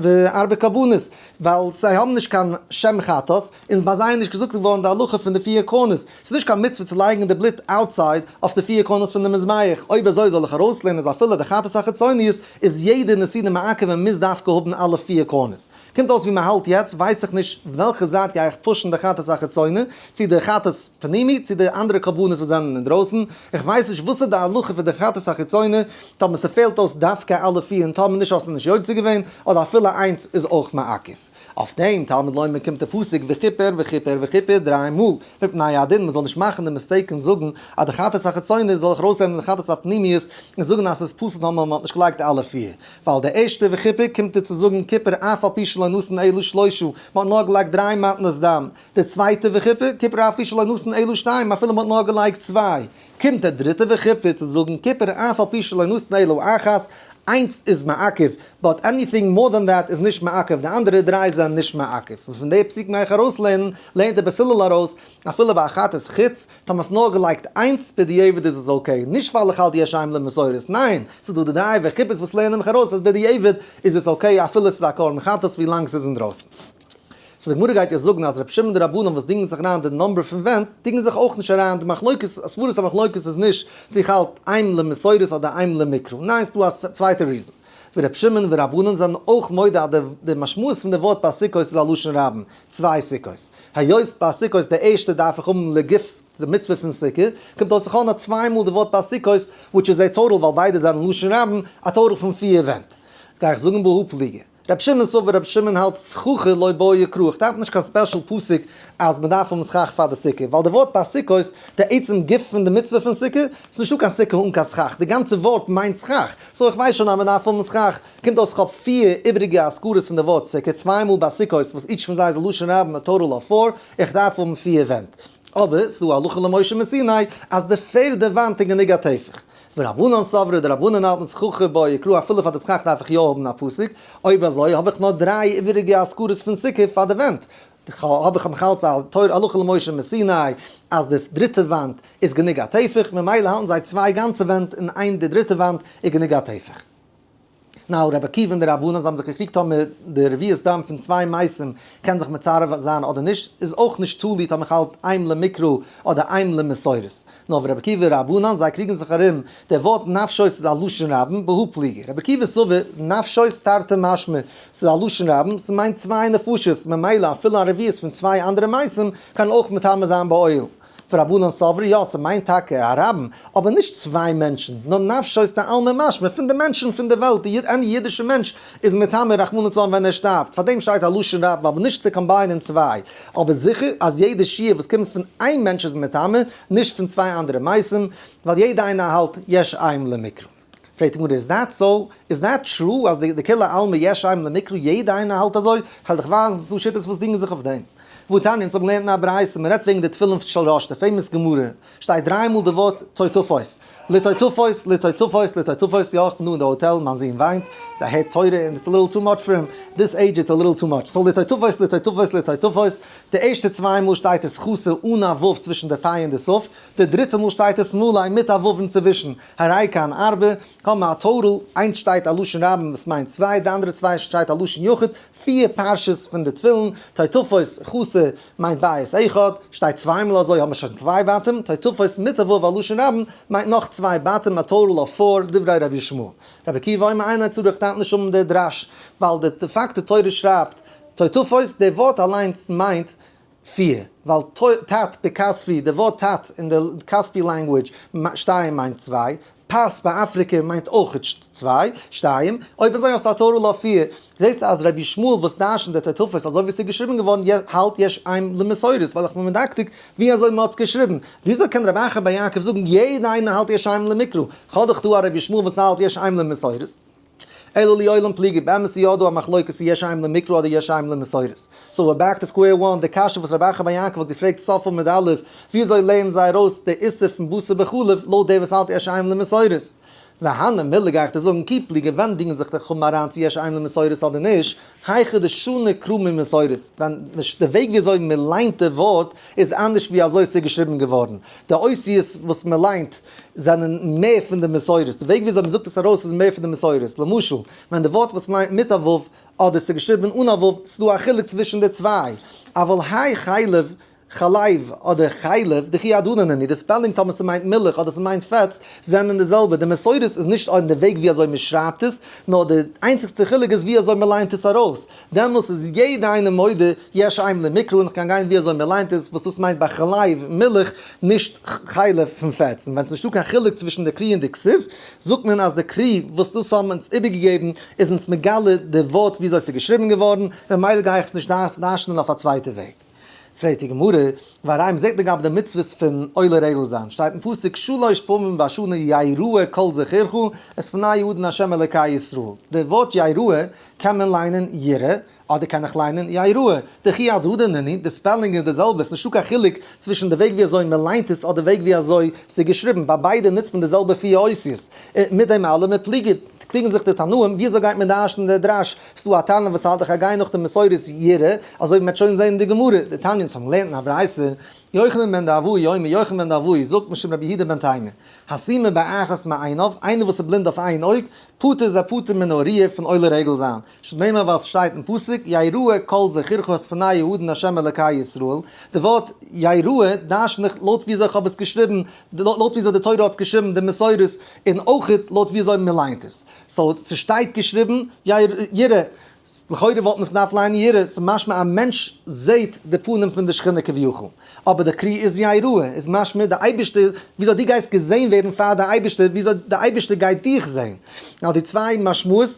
וארבע קרבנות. ווייל זיי האבן נישט קיין שם חטאת, און ביי זיי איז נישט געזאגט געווארן די הלכה פון די פיר קרנות, ס'איז נישט קיין מצוה צו לייגן די בלוט אוטסייד אויף די פיר קרנות פון די מזבח, אויב אזוי זאל איך ארויסלערנען אז אפילו די חטאת החיצוניות איז יעדע נסידה מעכב און מוז דווקא האבן אלע פיר קרנות. קומט אויס ווי מען האלט יעצט, ווייס איך נישט וועלכע זייט גיי איך פושן די חטאת החיצוני, צו די חטאת פנימי צו די אנדערע קרבנות וואס זענען אינדרויסן, איך ווייס נישט וואס איז די הלכה פון די חטאת החיצוני, טאמער ס'פעלט אויס דווקא אלע פיר און טאמער נישט האסטו נישט יוצא געווען, אדער אפילו איינס איז אויך מעכב. אויף דעם תלמוד לומר קומט די פסוק וכיפר וכיפר וכיפר דריי מאל, מפני הדין מ'זאל נישט מאכן די מיסטעיק און זאגן אז די חטאת החיצונית זאל איך ארויסהערן אין די חטאת הפנימיות און זאגן אז ס'איז פסול טאמער מ'האט נישט געלייגט אלע פיר, ווייל די ערשטע וכיפר קומט איר צו זאגן כיפר אף על פי שלא נתן אלא שלושה, מ'האט נאר געלייגט דריי מתנות דם, די צווייטע וכיפר, כיפר אף על פי שלא נתן אלא שתיים, אפילו מ'האט נאר געלייגט צוויי. קומט דער דריטער וכיפור צו זאגן כיפור אף על פי שלא נתנה אלא אחת, איינס איז מעכב, באט עניטינג מאר דען דעט איז נישט מעכב, די אנדערע דריי זענען נישט מעכב, און פון די פסוק מעג איך ארויסלערנען, לערנט דער בית הלל ארויס, אפילו ביי אחת איז חוץ, טאמער האסט נאר געלייגט איינס, בדיעבד איז עס אקעי, נישט ווייל איך האלט די השי ם למסורת, ניין, ס'איז דא די דריי וכיפור'ס וואס לערנען מיך ארויס אז בדיעבד איז עס אקעי אפילו ס'איז א קרבן חטאת ווילאנג ס'איז אינדרויסן. סאו די גמרא גייט יעצט זאגן אז רבי שמעון די רבנן וואס דינגען זיך אריין די נומבער פון ווענט דינגען זיך אויך נישט אריין די מחלוקת אז סברות המחלוקת איז נישט צו איך האלט עיין למסורת אדער עיין למקרא ניין ס'דא א צווייטע ריזען ווי רבי שמעון ווי רבנן זענען אויך מודה אז די משמעות פון די ווארט ביי סוכות איז א לשון רבים צוויי סוכות היות ביי סוכות די ערשטע דארף איך האבן לגוף די מצוה פון סוכה קומט אויס איך האב נאר צוויי מאל די ווארט ביי סוכות וויטש איז א טאטאל ווייל ביידע זענען לשון רבים א טאטאל פון פֿיר ווענט גיי איך זאגן בהא פליגא. רבי שמעון סובר רבי שמעון האלט סככה לא באה יקרה, איך דארף נישט קיין ספעשל פסק אז מען דארף האבן סכך פאר די סוכה, ווייל די ווארט ביי סוכות, די עצם גוף פון די מצוה פון סוכה, איז נישטא קיין סוכה אן קיין סכך, די גאנצע ווארט מיינט סכך, סאו איך ווייס שוין אז מען דארף האבן סכך, קומט אויס כ'האב פיר איבריגע אזכרות פון די ווארט סוכה, צוויי מאל ביי סוכות וואס איטש פון זיי איז לשון רבים א טאטאל אוו פאר, איך דארף האבן פיר ווענט. אבער, ס'דא א הלכה למשה מסיני אז די פערדע וואנט איז גענוג א טפח. ורבנן סברא, די רבנן האלטן ס' חכי בו יקרא אפילו פאר די סכך דארף איך יא האבן א פסוק, אויב אזוי האב איך נאר דריי איבעריגע אזכרות פון סוכה פאר די ווענט, ח ו האב איך נאך אלץ א תורה הלכה למשה מסיני אז די דריטע וואנט איז גענוג א טפח, ממילא האלטן זיי צוויי גאנצע ווענט און איין די דריטע וואנט איז גענוג א טפח. נאו, רבי עקיבא און די רבנן זיי האבן זיך געקריגט טאמער די רביעית דם פון צוויי מייסים קען זיך מצרף זיין אדער נישט איז אויך נישט תלוי טאמער כ'האלט איים למקרא אדער איים למסורת. נאו, רבי עקיבא און רבנן זיי קריגן זיך ארום דער ווארט נפשות איז א לשון רבים ב ה פליגער רבי עקיבא סובר נפשות תרתי משמע ס'איז א לשון רבים ס'מיינט צוויי נפשות ממילא אפילו א רביעית פון צוויי אנדערע מייסים קען אויך מטמא זיין באוהל ורבנן סברי, יא, ס'מיינט טאקע א רבים, אבער נישט צוויי מענטשן, נאר נפשו איז טענה'ל ממש, מ'פון די מענטשן פון די וועלט, די יוד, עני אידישע מענטש איז מטעמי רחמנות און צארן ווען ער שטארבט, פארדעם שטייט א לשון רבים, אבער נישט צו קאמביינען צוויי, אבער זיכער אז יעדע שיעור וואס קומט פון איין מענטש איז מטעמי, נישט פון צוויי אנדערע מעשים, ווייל יעדע איינער האלט יש עם למקרא. פרעגט די גמרא איז דעט סאו? איז דעט טרו אז די די כולי עלמא יש עיין למקרא יעדע איינער האלט אזוי? כ'על דיך ווייזן ס'איז דא שיטות וואס דינגען זיך אויף דעם. והוא תניא אונז האבן געלערנט אין א ברייתא מען רעדט וועגן די תפילין של ראש די פעימאס גמרא שטייט דריי מאל די ווארט טויטופוס לטויטופוס לטויטופוס לטויטופוס יא איך בין דא אין די האטעל מיין זון וויינט זיי הערט תורה און איטס א ליטל טו מאטש פאר אים דיס עידזש איטס א ליטל טו מאטש סאו לטויטופוס לטויטופוס לטויטופוס די ערשטע צוויי מאל שטייט עס חסר אן א ו' צווישן די פ' און די סוף די דריטע מאל שטייט עס מלא מיט א ו' אינצווישן. הרי כאן ארבע, האבן א טאטאל, איינס שטייט א לשון רבים וואס מיינט צוויי, די אנדערע צוויי שטייט א לשון יחיד, פיר פרשות פון די תפילין, תותפות, חסר, מיינט בית אחד, שטייט צוויי מאל אזוי האבן מיר שוין צוויי בתים, תותפות מיט א וואו א לשון רבים מיינט נאך צוויי בתים, א טאטאל אוו פאר, דברי רבי ישמעאל. רבי עקיבא אומר אין איין צורך טאנט נישט האבן די דרש, ווייל די פאקט די תורה שרייבט תותפות, די ווארט אליינס מיינט פֿיר, ווייל טו, טאַט, בקאַספֿי, די וואָרט טאַט אין דער קאַספֿי לאַנגווידזש, שתיים מיינט צוויי, פאַס ביי אַפֿריקע מיינט אויך צוויי, שתיים, אויב אַזוי האָסטו אַ טאָטאַל אויף פֿיר. זעסט אַז רבי ישמעאל וואָס דרשנט די תוספֿות אַזוי ווי ס'איז געשריבן געוואָרן יע, האַלט יש עם למסורת ווייל איך בין מדקדק ווי אַזוי מ'האָט עס געשריבן. וויאַזוי קען רבי אחר בר יעקב זאָגן יעדער איינער האַלט יש עם למקרא? כ'האָב דאָך דאָ אַ רבי ישמעאל וואָס האַלט יש עם למסורת. אלא לי עולם פליגי, באמת איז יא דא א מחלוקת צו יש עים למקרא אדער יש עים למסורת. סאו ווער בעק טו סקווער וואן, די קשיא וואס רבי אחא בר יעקב האט געפרעגט ספא מד א', וויאזוי לערנען זיי ארויס די איסור פון בשר בחלב לויט דער וואס האלט יש עים למסורת. והנה מילה גיי איך דיר זאגן כי פליגי ווענדיגן זיך די חמ א אריין צו יש עים למסורת אדער נישט, היכא דשנה קרא ממסורת, ווען נישט די וועג וויאזוי מען ליינט די ווארט איז אנדערש ווי אזוי עס איז געשריבן געווארן, די אותיות וואס מען ליינט, זענען מער פון די מסורות, די וועג וויאזוי מ'זאגט עס ארויס איז מער פון די מסורות, למשל, ווען די ווארט וואס מ'ליינט מיט א ו' אדער ס'איז געשריבן אן א ו', ס'איז דא א חילוק צווישן די צוויי, אבל האי חלב, חלב, אדער חלב, דכי הדרן הנני, די ספעלינג טאמער ס'מיינט מילך אדער ס'מיינט פעטס, זענען די זעלבע, די מסורות איז נישט אין די וועג ווי אזוי מ'שרייבט עס, נאר די איינציגסטע חילוק איז ווי אזוי מ'ליינט עס ארויס. דעמאלס איז יעדע איינער מודה יש עם למקרא אן איך גיין גיין ווי אזוי מען ליינט עס וואס דאס מיינט ביי חלב מילך נישט חלב פון פעטס און ווען ס'נישטא קיין חילוק צווישן די קרי און די כסוף זאגט מען אז די קרי וואס דאס האבן אונז איבערגעגעבן איז אונז מגלה די ווארט ווי אזוי ס'איז געשריבן געווארן ממילא גיי איך עס נישט דארשנען אויף א צווייטע וועג. פרעגט די גמרא, והראי' מען זעט לגבי די מצוות פון עולה רעדל זיין, שטייט אין פסוק שלש פעמים בשנה יראה כל זכרך את פני יהודה ה' אלקי ישראל, די ווארט יראה קען מען ליינען ירא אדער קען איך ליינען יראה, דכי הדרדא נני, די ספעלינג איז די זעלבע, ס'איז נישטא קיין חילוק צווישן די וועג ווי אזוי מען ליינט עס אדער וועג ווי אזוי ס'איז געשריבן, ביי ביידע נוצט מען די זעלבע פיר אותיות, און מיט דעם אלעם פליגען זיך די תנאים ווי אזוי גייט מען דרש'ן די דרש ס'דא א תנא וואס האלט איך א גיי נאך די מסורת ירה, אזוי ווי מ'עט שוין זעהן אין די גמרא, די תניא'נס האבן געלערנט אין א ברייתא, יוחנן בן דעוואי אומר, יוחנן בן דעוואי זאגט משום רבי יהודה בן תימא, הסימה באחת מעיניו, איינער וואס איז בלינד אויף איין אויג, פטור איז ער פטור מן האוריה פון עולה רגל זיין, שנאמר ווייל ס'שטייט אין פסוק, יראה כל זכרך את פני יהודן ה' אלקי ישראל, די ווארט יראה דרשן איך לויט וויאזוי כ'האב עס געשריבן, לויט וויאזוי די תורה האט עס געשריבן די מסורת, און אויך לויט וויאזוי מ'ליינט עס. סאו ס'שטייט געשריבן יאיר ירא, לכאורה וואלט מען עס געדארפט ליינען ירא, ס'איז משמע א מענטש זעהט די פנים פון די שכינה כביכול, אבער די קרי איז יראה איז משמע די אייבערשטער, וויאזוי דו גייסט געזעהן ווערן פאר די אייבערשטער, וויאזוי די אייבערשטער גייט דיך זעהן, ווייל די צוויי משמעות,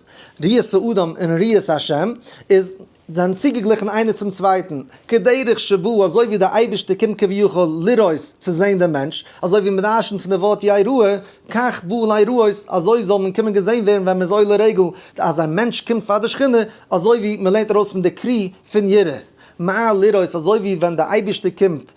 ראות האדם און ראות השם, איז. זיין צוגעגליכן איינער צום צווייטן, כדרך שבא, אזוי ווי דער אייבערשטער קומט כביכול לראות, צו זען דעם מענטש, אזוי ווי מען דרשנ'ט פון די ווארט יי ראה, כך בא אלי ראות, אזוי זאל מען קומען געזען ווערן ווען מען איז עולה רגל, אז א מענטש קומט פאר די שכינה, אזוי ווי מען לערנט ארויס פון די קרי פון ירא מעל לראות, אזוי ווי ווען דער אייבערשטער קומט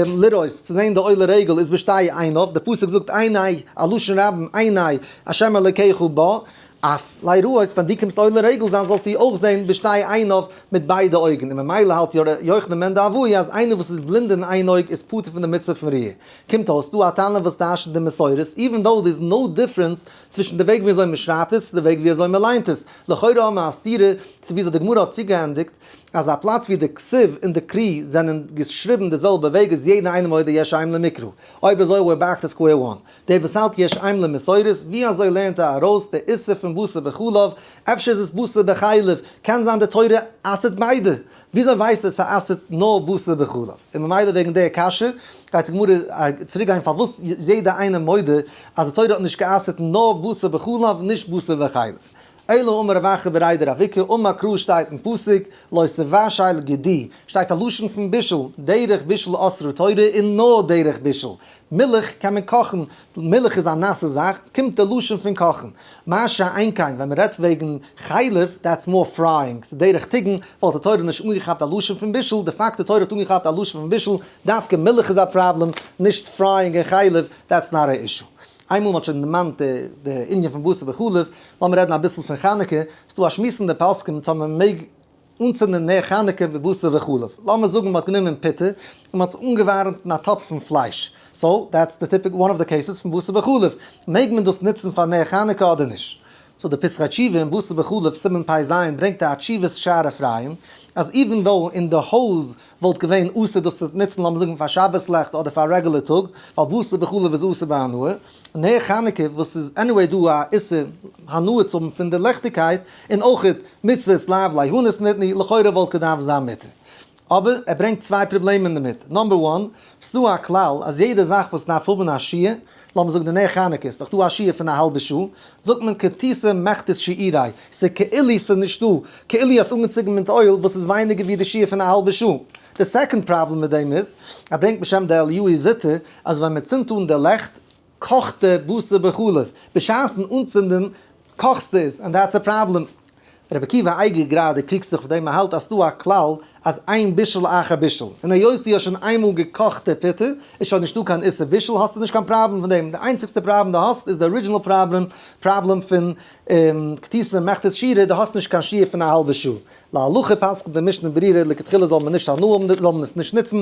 לראות, צו זען די עולה רגל, איז בשתי עיניו, דער פסוק זאגט עיני, א לשון רבים, עיני השם אלקיך בא, אַף ליירויס, ווען דו קומסט עולה רגל זיין זאָלסטו אויך זען בשתי עיניו, מיט ביידע אויגן, און ממילא האַלט יא ר' יוחנן מענדאַווי אַז איינער וואָס איז בלינד אין איין אויג איז פטור פון די מצוה פון ריאה. קומט אויס דאָ אַ טענה וואָס טיישט די מסורת, איווען דאָו דער איז נאָו דיפרענס צווישן די וועג ווי אַזוי מען שרייבט עס צו די וועג ווי אַזוי מען ליינט עס. לכאורה האָבן מיר אַ סתירה צו ווי אַזוי די גמרא האָט צוגעענדיגט אַז אַ פלאַץ ווי די כסוף און די קרי זענען געשריבן די זעלבע וועג איז יעדע איינעם מודה יש עם למקרא. אויב אַזוי ווער באַרגט עס סקווער וואַן? דער וואס האלט יש עם למסורת, ווי אזוי לערנט ער ארויס די איסור פון בשר בחלב, אפשר איז עס בשר בחלב, קען זיין די תורה אסר'ט ביידע, וויאזוי ווייסט ער ס'אסר'ט נאר בשר בחלב, און ממילא וועגן דער קשיא גייט די גמרא צוריק גיין פארוואס איז יעדער איינער מודה אז די תורה האט נישט גע'אסר'ט נאר בשר בחלב נישט בשר וחלב. אלא אמר רב אחר בראי דרביקה און מקרא שטייט אין פסוק לא תבשל גדי שטייט א לשון פון בישול, דרך בישול אסרו תורה און נאר דרך בישול, מילך קען מען קאכן, מילך איז א נאסע זאך, קומט די לשון פון קאכן. מה שאין כן ווען מ'רעדט וועגן חלב, דעטס מאר פרייאינג, ס'איז דרך טיגן, וואלט די תורה נישט אנגעכאפט א לשון פון בישול, די פאקט די תורה האט אנגעכאפט א לשון פון בישול, דווקא מילך איז א פראבלעם, נישט פרייאינג און חלב, דעטס נאט א אישו. איינמאל מ'האט שוין דערמאנט די ענין פון בשר בחלב, לאמיר רעדן אביסל פון חנוכה, ס'דא א שמועס אין די פוסקים צו מען מעג. אנצינדן נר חנוכה בבשר וחלב, לאמיר זאגן מ'האט גענומען פיטה און מ'האט עס אנגעווארעמט אין א טאפ פון פלייש, סאו דעטס די טיפיק וואן אוו די קעיסעס פון בשר וחלב, מעג מען דאס נוצן פאר נר חנוכה אדער נישט? סאו די פסחא תשובה אין בשר וחלב סימן פ ז ברענגט א תשובת שער אפרים אז איווען דאו אין די הויז וואלט געווען אסור דאס צו נוצן לאמיר זאגן פאר שבת לעכט אדער פאר א רעגולער טאג ווייל בשר וחלב איז אסור ביי הנאה, נר חנוכה וואס איז עניוועי דא א איסור הנאה צו האבן פון די ליכטיגקייט, און אויך מצוות לאו ליהנות נתני, לכאורה וואלט געדארפט זיין מותר. אבער ער ברענגט צוויי פראבלעמען דערמיט, נאמבער וואן, ס'איז דא א כלל אז יעדע זאך וואס דארף האבן א שיעור, לאמיר זאגן די נר חנוכה איז דאך דא א שיעור פון א האלבע שעה, זאגט מען כתיסה מכתית שעירי, ס'איז כאילו ס'איז נישטא, כאילו האט אנגעצויגן מיט אויל וואס איז ווייניגער ווי די שיעור פון א האלבע שעה. די סעקאנד פראבלעם מיט דעם איז, ער ברענגט בשם די אליהוי זיתא אז ווען מען צינדט אן די לעכט קאכט די בשר בחלב, בשעת'ן אנצינדן קאכסט עס, ענד דעטס א פראבלעם. ר' עקיבא אייגער גראדע קריגט זיך אויף דעם, ער האלט אז ס'דא א כלל אז איין בישול אחר בישול, און היות דו האסט שוין איינמאל געקאכט די פיטה איז שוין נישטא קיין איסור בישול האסטו נישט קיין פראבלעם פון דעם, די איינציגסטע פראבלעם דו האסט איז די ארידזשינעל פראבלעם פראבלעם פון כתיסה מכתס שירה, דו האסט נישט קיין שיעור פון א האלבע שעה. להלכה פסק'נט די משנה ברירה לכתחילה זאל מען נישט הנאה האבן, זאל מען עס נישט נוצן,